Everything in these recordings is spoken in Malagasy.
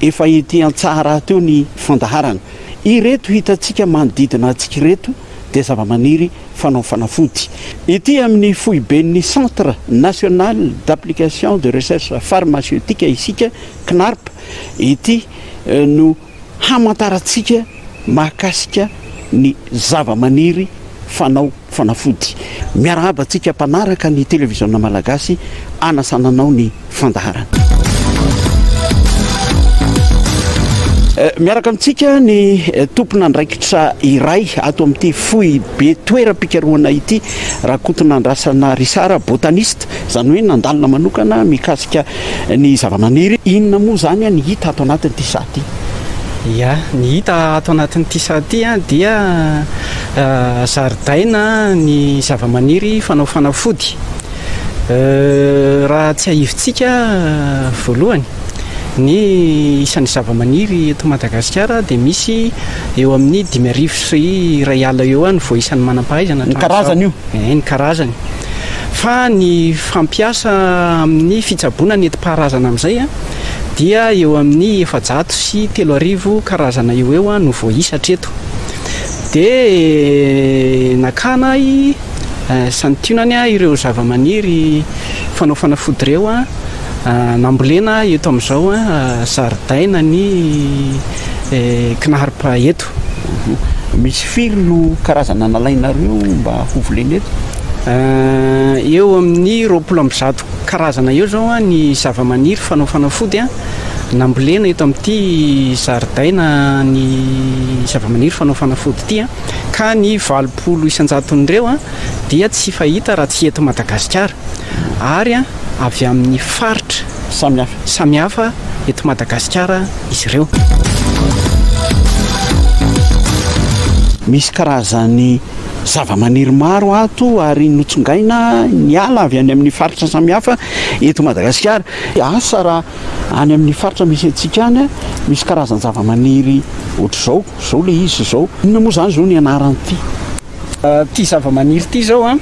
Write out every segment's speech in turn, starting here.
Efa ety an-tsaha rahateo ny fandaharana. Ireto hitantsika manodidina antsika ireto dia zavamaniry fanao fanafody. Ety amin'ny foiben'ny Centre National d'Application de Recherche Pharmaceutique isika, CNARP, ity no hamantarantsika. mahakasika ny zavamaniry fanao fanafody. Miarahaba antsika mpanaraka ny televiziona malagasy anasana anao ny fandaharana. Miaraka amintsika ny tompon'andraikitra iray ato amin'ity foibe toeram-pikarohana ity, Rakotonandrasana Richard, botaniste, izany hoe nandalina manokana mikasika Ny zavamaniry inona moa izany ny hita ato anatin'ity saha ity? Ia, ny hita ato anatin'ity saha ity dia zaridaina ny zavamaniry fanao fanafody. Raha tsiahivintsika voalohany ny isan'ny zavamaniry eto Madagasikara dia misy eo amin'ny dimy arivo sy iray ala eo ihany vao isan'ny manam-pahaizana hatramin'izao. Ny karazany io? Hay ny karazany. Fa ny fampiasa amin'ny fitsaboana ny enti-paharazana amin'izay dia eo amin'ny efajato sy telo arivo karazana eo ho eo no voaisa hatreto. Dia nakana ahy santionany ireo zavamaniry fanao fanafody ireo nambolena eto amin'izao zaridaina ny Knarp eto. Misy firy no karazana nalainareo mba ho volena eto? Eo amin'ny roapolo amby zato karazana eo izao ny zavamaniry fanao fanafody nambolena eto amin'ity zaridaina ny zavamaniry fanao fanafody ity ka ny valopolo isan-jaton'ireo dia tsy fahita raha tsy eto Madagasikara ary avy amin'ny faritra samihafa eto Madagasikara izy ireo. Misy karazan'ny zavamaniry maro ato ary notsongaina ny ala avy any amin'ny faritra samihafa eto Madagasikara. Asa raha any amin'ny faritra misy antsika any misy karazan-javamaniry ohatr'izao, izao ilay izy izao. Inona moa izany izao ny anaran'ity? Ity zavamaniry ity izao an,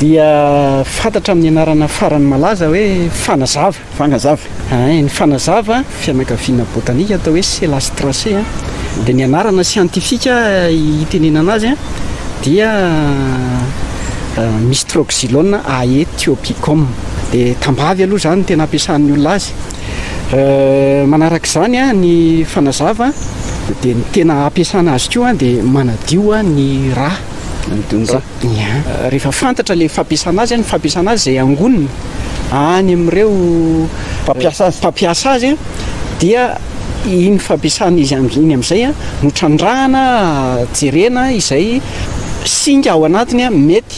dia fantatra amin'ny anarana farany malaza hoe fanazava. Fanazava. Ain, ny fanazava, fianakaviana botanika atao hoe Celastraceae an, dia ny anarana siantifika itenenana azy an, dia Mistroxylon aethiopichum. Dia tambavy aloha izany no tena ampiasan'ny olona azy. Manaraka izany ny fanazava dia ny tena ampiasana azy koa dia manadio ny ra. Manadio ny ra. Rehefa fantatra ilay fampiasana azy, ny fampiasana azy izay angonina any amin'ireo mpampiasa azy dia iny fampiasana izy iny amin'izay no trandrahana jerena izay singa ao anatiny mety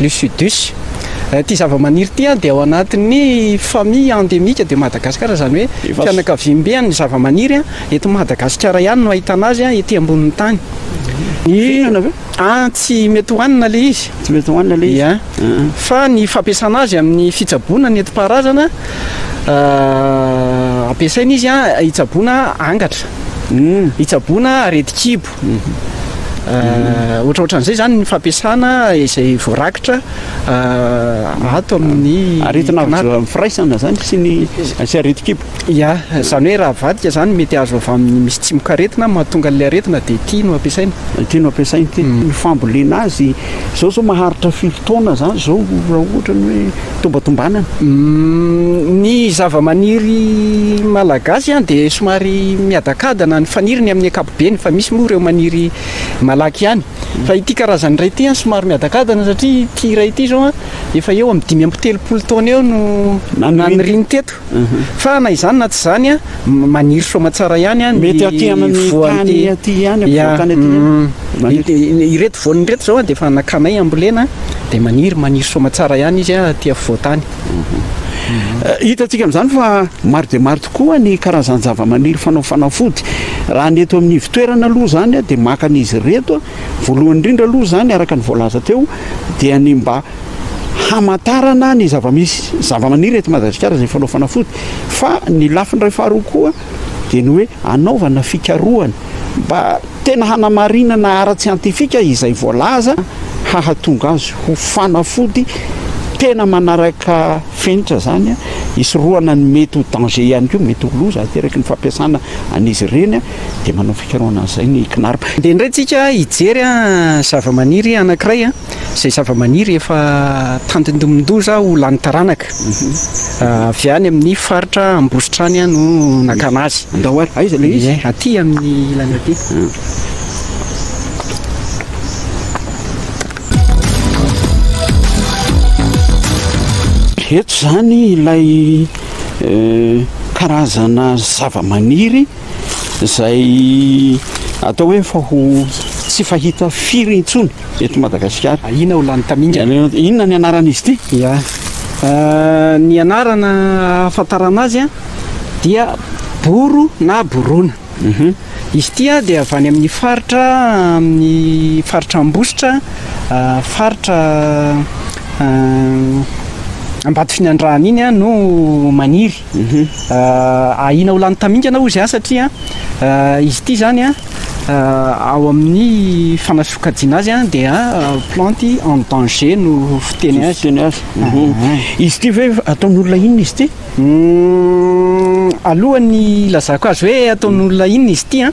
Lucidus. Ity zavamaniry ity dia ao anatin'ny famille endémique de Madagascar, izany hoe fianakaviambe an'ny zavamaniry eto Madagasikara ihany no ahitana azy ety ambonin'ny tany. Fihinana ve? Tsy mety hohanina ilay izy. Tsy mety hohanina ilay izy. Fa ny fampiasana azy amin'ny fitsaboana nentim-paharazana, ampiasaina izy hitsaboana angatra, hitsaboana aretin-kibo. Ohatraohatran'izay izany ny fampiasana izay voarakitra ato amin'ny aretina avy amin'ny firaisana izany sy ny sy aretin-kibo. Ia, izany hoe raha avadika izany mety azo avy amin'ny misy tsimokaretina mahatonga an'ilay aretina dia ity no ampiasaina. Ity no ampiasaina ity. Ny fambolena azy izao izao maharitra firy taona izany izao raha ohatra ny hoe. tombatombanana. Ny zavamaniry malagasy an dia somary miadakadana ny faniriny amin'ny ankapobeny fa misy moa ireo maniry malaky ihany. Fa ity karazany iray ity an somary miadakadana satria ity iray ity izao an efa eo amin'ny dimy amby telopolo taona eo no naniriny teto. Fa na izany na tsy izany an, maniry soa aman-tsara ihany an ny voan'ny tany. Ireto voany ireto izao an dia efa nakanay hambolena dia maniry, maniry soa aman-tsara ihany izy an aty afovoan-tany. Hitantsika amin'izany fa maro dia maro tokoa ny karazan-javamaniry fanao fanafody. Raha ny eto amin'ny ivotoerana aloha izany dia maka an'izy ireto voalohany indrindra aloha izany araka ny voalaza teo dia ny mba hamantarana ny zava-misy zava-maniry eto Madagasikara izay fanao fanafody fa ny lafiny iray faharoa koa dia ny hoe anaovana fikarohana mba tena hanamarinana ara-tsiantifika izay voalaza hahatonga azy ho fanafody tena manaraka fenitra izany hisorohana ny mety ho danger ihany koa mety ho loza ateraky ny fampiasana an'izy ireny dia manao fikarohana an'izay ny CNARP. Dia indray tsika hijery zava-maniry anankiray izay zavamaniry efa tandindomin-doza ho lany taranaka. Avy any amin'ny faritra Ambositra any no nakana azy. Andao ary, aiza ilay izy? Ie, aty amin'ny ilany aty. Eto izany ilay karazana zavamaniry. izay atao hoe fa ho tsy fahita firy intsony eto Madagasikara. Ah, inona ho lany tamingana? Inona ny anaran'izy ity? Ya. Ah, ny anarana ahafantarana azy dia boro na borona. Mhm. Izy ity dia avy any amin'ny faritra amin'ny faritra Ambositra, ah, faritra ah, Ambatofinandrahana iny no maniry. Ahiana ho lany tamingana hozy an satria izy ity zany an ao amin'ny fanasokajiana azy an dia plante en danger no fiteny azy. Fiteny azy. Izy ity ve ataon'olona inona izy ity? Alohan'ny ilazako azy hoe ataon'olona inona izy ity an.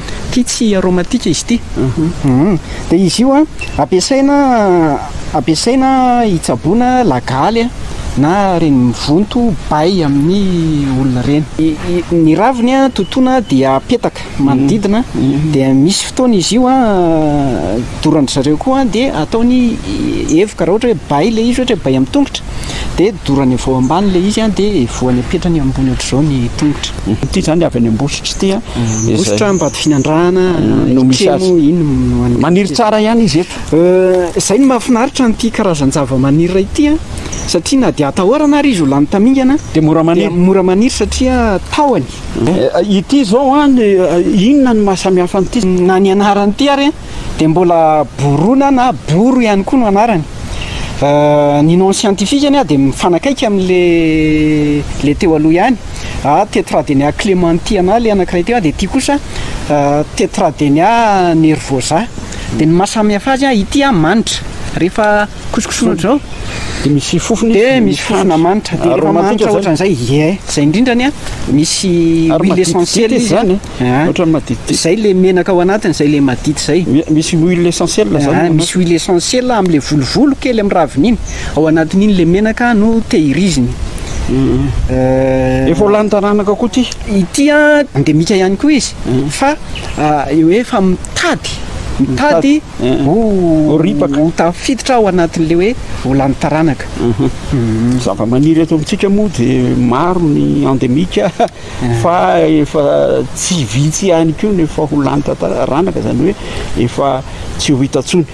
Ity tsy aromatika izy ity. Hum. Dia izy io ampiasaina ampiasaina hitsaboana lagaly na ireny mivonto bay amin'ny olona ireny. Ny raviny totoina dia apetaka manodidina dia misy fotoana izy io doran-dry zareo koa dia ataony hevoka raha ohatra hoe bay ilay izy ohatra hoe bay amin'ny tongotra dia dorany avy ao ambany ilay izy dia voany apetrany ambony ohatr'izao ny tongotra. Ity izany avy any Ambositra ity an. Ambositra, Ambatofinandrahana, Itremo, iny no any. Maniry tsara ihany izy eto. Izay no mahafinaritra an'ity karazan-javamaniry iray ity an, satria na dia atahorana ary izy ho lany tamingana dia mora maniry, dia mora maniry satria tahony. Ity izao an, inona no maha samihafa an'ity? Na ny anaran'ity ary an. dia mbola Borona na Boro ihany koa no anarany. Ny nom scientifique anie dia mifanakaiky amin'le le teo aloha ihany. Tetradenia clementiana le anankiray teo, dia ity kosa Tetradenia nervosa. Dia ny mahasamihafa azy, ity manitra, rehefa kosokosona ohatr'izao dia misy fofona izy, dia misy fofona manitra, dia rehefa manitra ohatran'izay, ie, izay indrindra anie misy huile essentielle izy. Aa otrany maditidity. Zay le menaka ao anatiny zay le madity zay. Misy huile essentielle zany ao anatiny. Aa misy huile essentielle amle volovolo kely am raviny iny ao anatiny iny le menaka no tehiriziny. Efa ho lany taranaka koa ty. Ity a endemika ihany koa izy fa eo efa mitady mitady ho ripaka ho tafiditra ao anatinle hoe ho lany taranaka. Zavamaniry eto amitsika moa dia maro ny endemika fa efa tsy vitsy ihany koa no efa ho lany tataranaka izany hoe efa tsy ho hita tsony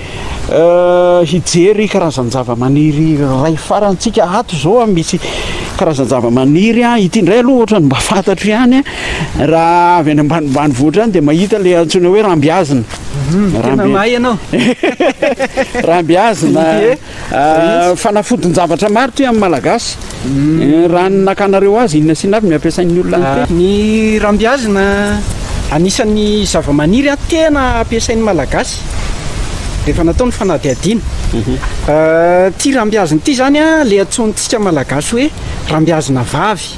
euh, hijery karazan-javamaniry ray farantsika ato izao misy karazan-javamaniry a ity indray aloha ohatra ny mba fantatro ihany raha avy any ambanimbany vohitra any dia mahita le antsoina hoe rambiazina mhm, tena mahay ianao rambiazina Fanafodin-javatra maro ity amin'ny Malagasy. Raha ny nakanareo azy, inona sy inona avy no ampiasain'ny olona an'ity? Ny rambiazina, anisan'ny zavamaniry tena ampiasain'ny Malagasy rehefa natao ny fanadihadiana. Ity rambiazina ity izany ilay antsointsika Malagasy hoe rambiazina vavy.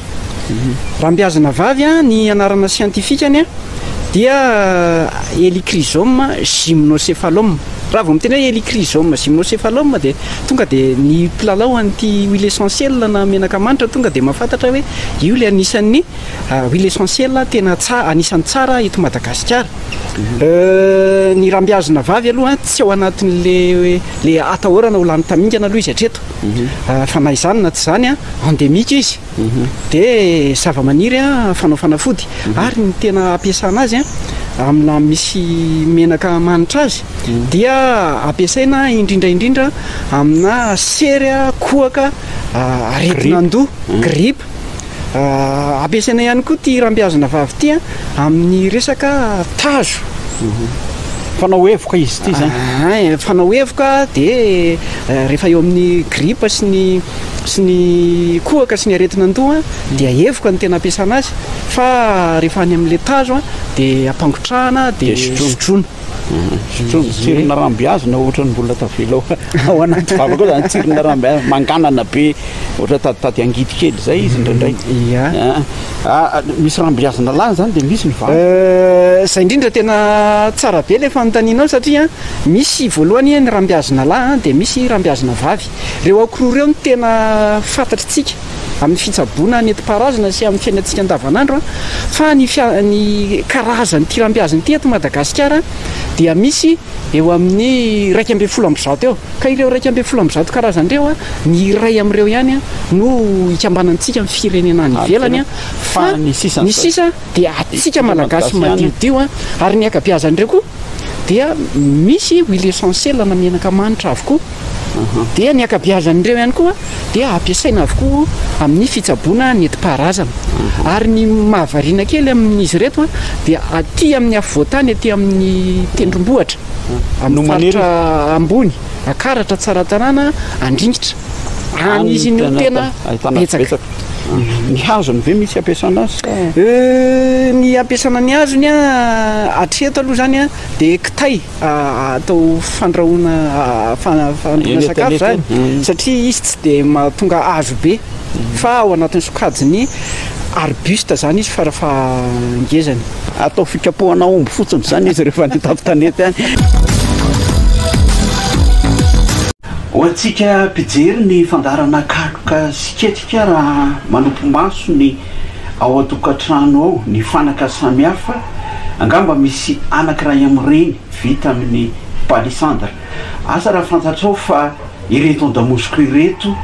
Rambiazina vavy a, ny anarana siantifikany a dia Helichrysoma gymnocephalum. Raha vao miteny hoe Helichrysoma gymnocephalum dia tonga dia ny mpilalao an'ity huile essentielle na menaka manitra tonga dia mahafantatra hoe io ilay anisan'ny huile essentielle tena tsara, anisan'ny tsara eto Madagasikara. Ny rambiazina vavy aloha tsy ao anatin'ilay hoe ilay atahorana ho lany tamingana aloha izy hatreto. mhm. fa na izany na tsy izany endemique izy mhm. dia zava-maniry fanao fanafody mhm. ary ny tena ampiasana azy amina misy menaka manitra azy dia ampiasaina indrindra indrindra amina sery kohaka aretina andoha gripe Ampiasaina ihany koa ity hiram-biazina vavy ity amin'ny resaka tazo. Mhm. Fanao evoka izy ity zany. Ah, ah, eh, fanao evoka dia eh, rehefa eo amin'ny gripa sy ny sy ny kohaka sy ny aretina an-doha mhm. dia evoka ny tena ampiasana azy fa rehefa any amin'ilay tazo dia ampangotrahana dia sotroina. Tsirona rambiazina ohatrany mbola tavela ao anaty vava koa zany tsirona rambiazina manganana be ohatra tady tady angidy kely izay izy indraindray ah, ah, ah, misy rambiazina lany zany dia misy ny vava euh, zay indrindra tena tsara be ilay fanontanianao satria misy voalohany ny rambiazina lahy dia misy rambiazina vavy reo akororeo no tena fantatritsika amin'ny fitsaboana nentim-paharazana sy amin'ny fiainantsika andavanandro fa ny ny karazan'ity rambiazy ity eto Madagasikara dia misy eo amin'ny iraika ambin'ny folo amby zato eo ka ireo iraika ambin'ny folo amby zato karazany ireo a ny iray amin'ireo ihany a no ikambanantsika amin'ny firenena any ivelany a fa ny sisa ny sisa dia atsika malagasy madiodio a ary ny ankabeazan'ireo koa dia misy huile essentielle na menaka manitra avokoa dia ny ankabeazan'ireo ihany koa dia ampiasaina avokoa amin'ny fitsaboana ny enti-paharazana ary ny mahavariana kely amin'izy ireto dia aty amin'ny afovoantany aty amin'ny tendrombohitra amin'ny faritra ambony akaratra tsaratanàna andringitra any izy no tena betsaka ny hazony ve misy ampiasana azy sa ny ampiasana ny hazony a hatreto aloha izany a dia kitay atao fandrahoana fandrahoana sakafo zany satria izy tsy dia mahatonga hazo be fa ao anatin'ny sokajiny arbuste zany izy fara fahangezany atao fikapohana omby fotsiny zany izy rehefa any an-tampon-tanety any ho antsika mpijery ny fandaharana kaloka sy ketrika raha manopy maso ny ao an-tokantrano ao, ny fanaka samihafa, angamba misy anankiray amin'ireny vita amin'ny palissandre. Asa raha fantatrao fa ireto an-damosiko ireto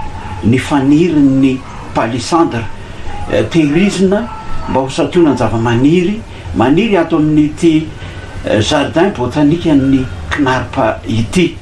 ny fanirin'ny palissandre. Tehirizina mba ho santionan'ny zavamaniry maniry ato amin'ity jardin botanique an'ny Knarp ity.